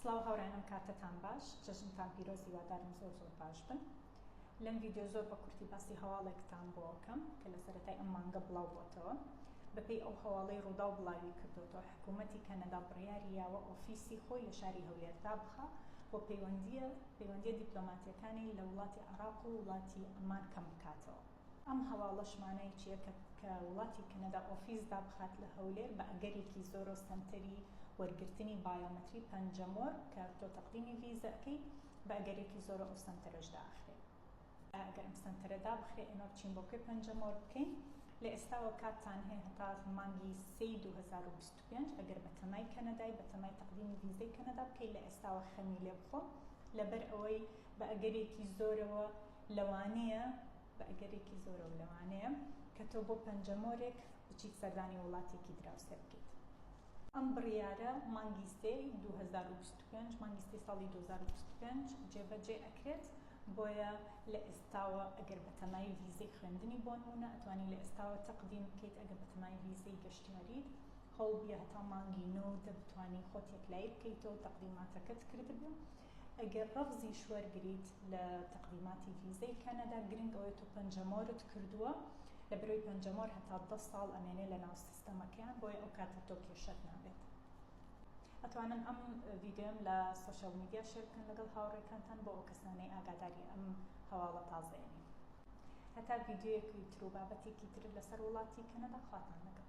سڵاو هاوڕێنم کاتتان باش جەژنتان پیرۆز هیوادارم زۆر زۆر باش بن لەم ڤیددیو زۆر بە کورتی باسی هەواڵێکتان بۆکەم کە لە سەرەتای ئەم مانگە بڵاو بۆتەوە بەپێی ئەو هەواڵەی ڕووداو بڵاوی کردوەوە حکوومەتی کەنەدا بڕیاری یاوە ئۆفیسی خۆی لە شاری هەولێر دابخە بۆ پەیوەندیە پەیوەندیە دیپلۆماتیەکانی لە وڵاتی عراق و وڵاتی ئەمان کەم بکاتەوە ئەم هەواڵەش مانای چیە کە کە وڵاتی کەنەدا ئۆفیس دابخات لە هەولێر بە ئەگەرێکی زۆرۆ سەنتەری وەرگرتنی بایۆمەتری پەنجەمۆر کە تۆ تەقدیمی ڤیزە ئەکەی بە ئەگەرێکی زۆرۆ ئەو سەنتەرەش داخرێ ئەگەر ئەم سەنتەرە دابخرێ ئێمە بچین بۆ کوێ پەنجەمۆر بکەین لە ئێستاوە کاتتان هەیە هەتا مانگی سێی 2025 ئەگەر بە تەمای کەنەدای بە تەمای تەقدیمی ڤیزەی کەنەدا بکەی لە ئێستاوە خەمی لێ بخۆ لەبەر ئەوەی بە ئەگەرێکی زۆرەوە لەوانەیە، بە ئەگەرێکی زۆرەوە لەوانەیە، کە تۆ بۆ پەنجەمۆرێک بچیت سەردانی وڵاتێکی دراوسێ بکەیت. ئەم بڕیارە مانگی سێی دوو هەزار و بیست و پێنج، مانگی سێی ساڵی دوو هەزار و بیست و پێنج، جێبەجێ ئەکرێت، بۆیە لە ئێستاوە ئەگەر بەتەمای ڤیزەی خوێندنی بۆنموونە ئەتوانی لە ئێستاوە تەقدیم بکەیت، ئەگەر بەتەمای ڤیزەی گەشتیاریت هەوڵبیە هەتا مانگی نۆ و دە بتوانی خۆت یەکلایی بکەیتەوە و تەقدیماتەکەت کردبێ. ئەگەر رەفزیش وەرگریت لە تەقدیماتی ڤیزەی کەنەدا گرنگ ئەوەی تۆ پەنجەمۆرت کردووە لە بەرەوی پەنجەمۆر هەتا دە ساڵ ئەمێنێ لە ناو سیستەمەکەیان بۆیە ئەو کاتە تۆ کێشەت نابێت ئەتوانن ئەم ڤیددیۆم لە سوۆشەل میدیا شێر بکەن لەگەڵ هاوڕێکانتان بۆ ئەو کەسانەی ئاگاداری ئەم هەواڵە تازەیەنی هەتا ڤیددیویەکی تر و بابەتێکی تر لەسەر وڵاتی کەنەدا خواتان لەگەڵ